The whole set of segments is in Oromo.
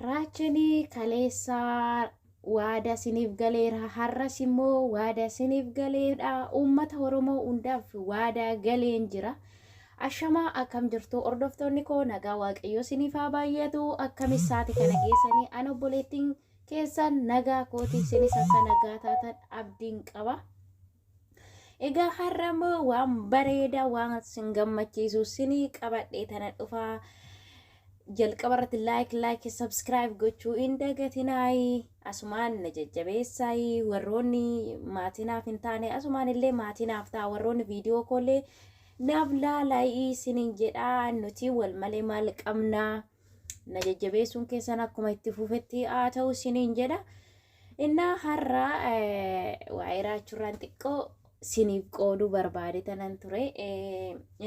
Raachanii kaleessaa waada siniif galeera har'as immoo waada siniif galeedha uummata oromoo hundaaf waada galeen jira ashamaa akkam jirtu hordoftoonni koo nagaa waaqayyoo siniif haa baay'atu akkam isaati kana geessanii an obboleettiin keessan nagaa kooti isinis akka nagaa taatan abdiin qaba. Egaa har'a immoo waan bareedaa waan sin gammachiisu sinii qabadhee tana dhufaa jalqaba irratti laayik laayik sabskiraayib gochuu hin dagatinaayi asumaan na jajjabeessaayi warroonni maatinaaf hin taane asumaan illee maatinaaf ta'a warroonni viidiyoo koollee naaf laalaayii sinin jedhaa nuti wal malee maal qabnaa. na jajjabeessuun keessan akkuma itti fufetti haa ta'u siniin jedha. Innaa har'a waa'ee raachuurraan xiqqoo siniif qooduu barbaade tanan ture.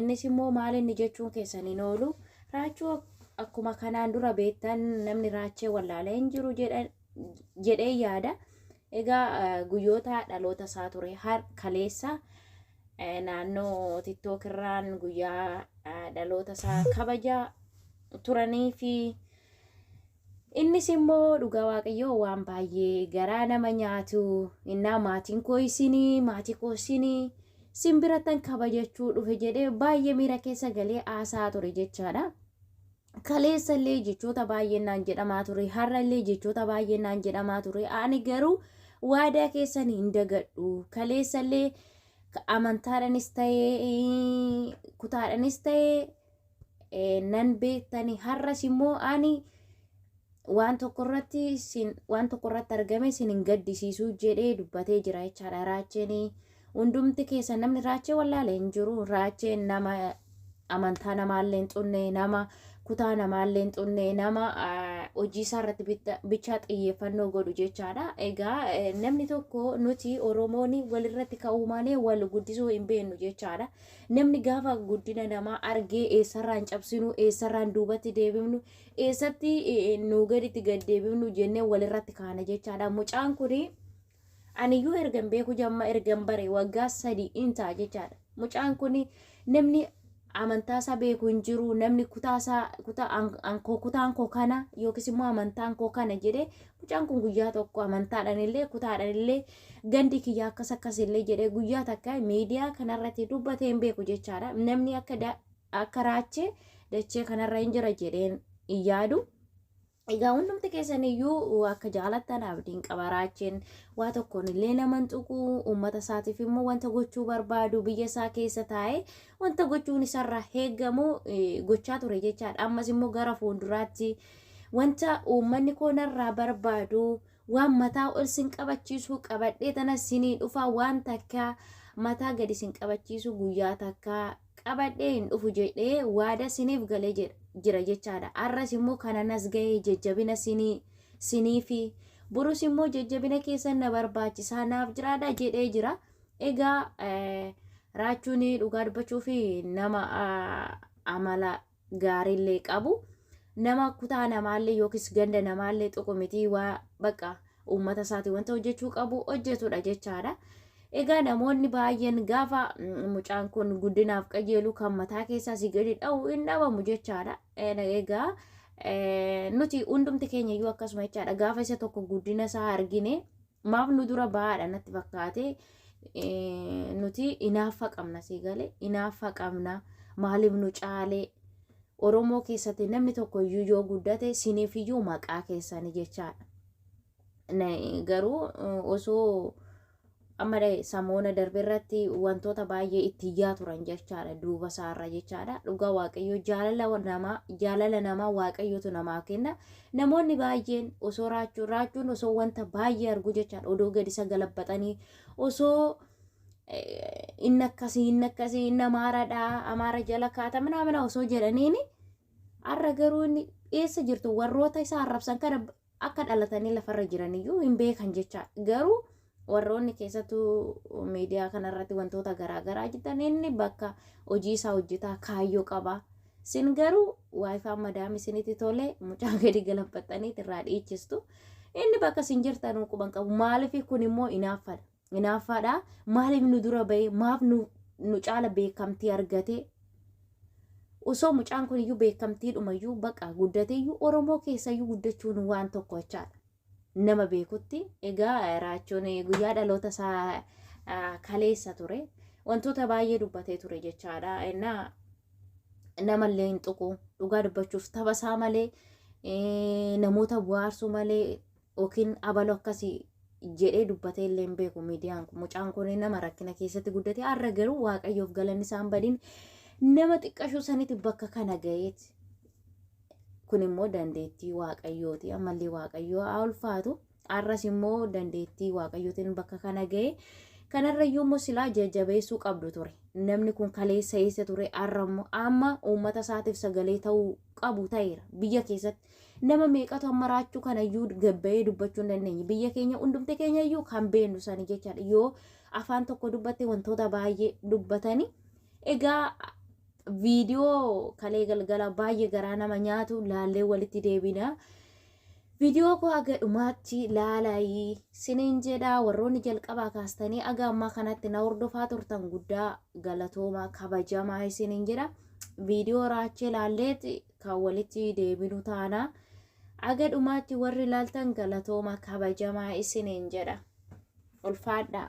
Innis immoo maal inni jechuun keessan hin oolu. Raachuu akkuma kanaan dura beektan namni raachee wallaalee hin jiru jedhee yaada. Egaa guyyoota dhaloota isaa ture kaleessa. naannoo tiktok irraan guyyaa dhaloota isaa kabaja turanii fi innis immoo dhugaa waaqayyoo waan baay'ee garaa nama nyaatu innaa maatiin koo isinii maatii koo isinii sin birattan kabajachuu dhufe jedhee baay'ee miira keessa galee haasaa ture jechaadha. kaleessa illee jechoota baay'een naan jedhamaa ture har'a illee jechoota baay'een naan jedhamaa ture ani garuu waadaa keessan hin dagadhu kaleessa illee amantaadhanis ta'ee kutaadhanis ta'ee nan beektani har'as immoo ani waan tokko irratti sin waan tokko irratti argame sin hin gaddisiisuu jedhee dubbatee jira jechaadha raacheen hundumti keessa namni raachee wallaale hin jiru raacheen nama amantaa namaallee hin xunne nama kutaa namaallee hin xunne nama hojii isaa irratti bichaa xiyyeeffannoo godhu jechaadha egaa namni tokko nuti oromoon walirratti ka'uu malee wal guddisuu hin beeknu jechaadha namni gaafa guddina namaa argee eessarraan cabsinu eessarraan duubatti deebifnu eessatti nuu gaditti gad deebifnu jennee walirratti kaana jechaadha. Mucaan kun aniyyuu ergan beeku jamma ergan bare waggaa sadii in ta'a jechaadha. Mucaan kun namni amantaa isaa beeku hin jiru namni kutaa isaa kutaa ankoo kutaan koo kana yookiis immoo amantaan koo kana jedhee mucaan kun guyyaa tokko amantaadhaan illee kutaadhaan illee gandi kiyya akkas akkas illee jedhee guyyaa takka miidiyaa kanarratti dubbatee hin beeku jechaadha. Namni akka akka raachee dachee kanarra hin jira jedheen hin yaadu. Egaa hundumti keessan iyyuu akka jaalattan abdiin qaba raacheen waa tokkoon illee nama hin tuqu uummata isaatiif immoo wanta gochuu barbaadu biyya isaa keessa taa'ee wanta gochuun isarraa eegamu eh, gochaa ture jechaadha. Ammas immoo gara fuulduraatti wanta uummanni koo narraa barbaadu waan mataa ol sin qabachiisu qabadhee tana sinii dhufaa waan takka mataa gadi sin qabachiisu guyyaa takka qabadhee hin dhufu jedhee waada siniif galee jedha- jira jechaadha. Arras immoo kana nas gahee jajjabina sinii siniifi borus immoo jajjabina keessan na barbaachisaa naaf jiraadha jedhee jira. Egaa eh, raachuun dhugaa dubbachuuf nama ah, amala gaariillee qabu nama kutaa namaallee yookiis ganda namaallee tuqu mitii waa baqa uummata isaati wanta hojjechuu qabu hojjetudha jechaadha. Egaa namoonni baay'een gaafa mm, mucaan kun guddinaaf qajeelu kan mataa keessaa si gadi dha'u hin dhabamu jechaadha. Eh, Egaa eh, nuti hundumti keenya iyyuu akkasuma jechaadha. Gaafa isa tokko guddina isaa argine maaf nu dura bahaadha natti fakkaate nuti inaaffa qabna si gale inaaffa qabna maaliif nu caalee Oromoo keessatti namni tokko iyyuu yoo guddate siniif iyyuu maqaa keessani jechaadha. Garuu osoo amma samoona darbe irratti wantoota baay'ee itti iyyaa turan jechaadha duuba isaarra jechaadha dhugaa waaqayyoo jaalala namaa jaalala namaa waaqayyootu namaa kenna Namoonni baay'een osoo raachuun raachuun osoo wanta baay'ee argu jechaan odoo gadi isa galabbaxanii osoo inni akkasii inni akkasii inni amaaradhaa amaara jala kaata minaamina osoo jedhaniini har'a garuu inni eessa jirtu warroota isa arrabsan kana akka dhalatanii lafarra jiraniyyuu hin beekan jechaa garuu Warroonni keessattuu miidiyaa kanarratti wantoota garaa garaa jettan inni bakka hojii isaa hojjetaa kaayyoo qaba. Sin garuu waayifaan madaami isinitti tole mucaa gadi galanfattaniit irraa dhiichistu. Inni bakka sin jirtanuu quban qabu. Maaliif kun immoo inaaffaadha. Inaaffaadha maaliif nu dura bahee maaf nu, nu caala beekamtii argatee osoo mucaan kun iyyuu beekamtiidhuma iyyuu baqa guddateeyyuu Oromoo keessa iyyuu guddachuun waan tokko jechaadha. nama beekutti egaa raachuun guyyaa dhaloota isaa kaleessa ture wantoota baay'ee dubbatee ture jechaadha innaa namallee hin tuqu dhugaa dubbachuuf tapha isaa malee namoota bu'aarsuu malee yookiin abaloo akkasii jedhee dubbatee illee hin beeku miidiyaan kun mucaan kun nama rakkina keessatti guddate har'a garuu waaqayyoof galanni isaan badin nama xiqqashuu sanitti bakka kana ga'eeti. kun immoo dandeettii waaqayyooti ammallee waaqayyoo haa ulfaatu har'as immoo dandeettii waaqayyootiin bakka kana ga'e kanarrayyuu immoo silaa jajjabeessuu qabdu ture namni kun kaleessa eessa ture har'a immoo amma uummata isaatiif sagalee ta'uu qabu ta'eera biyya keessatti nama meeqatu amma raachuu kanayyuu gabba'ee dubbachuu hin dandeenye biyya keenya hundumti keenyayyuu kan beennu sani jechaadha yoo afaan tokko dubbatte wantoota baay'ee dubbatanii egaa Viidiyoo kalee galgala baay'ee garaa nama nyaatu laallee walitti deebina. Viidiyoo koo aga dhumaatti laalaayii siniin jedhaa warroonni jalqabaa kaastanii aga ammaa kanatti na hordofaa turtan guddaa galatoomaa kabajamaa isiniin jedha. Viidiyoo raachee laalleet kan walitti deebinu taana. Aga dhumaatti warri laaltan galatoomaa kabajamaa isiniin jedha. Ulfaadhaa.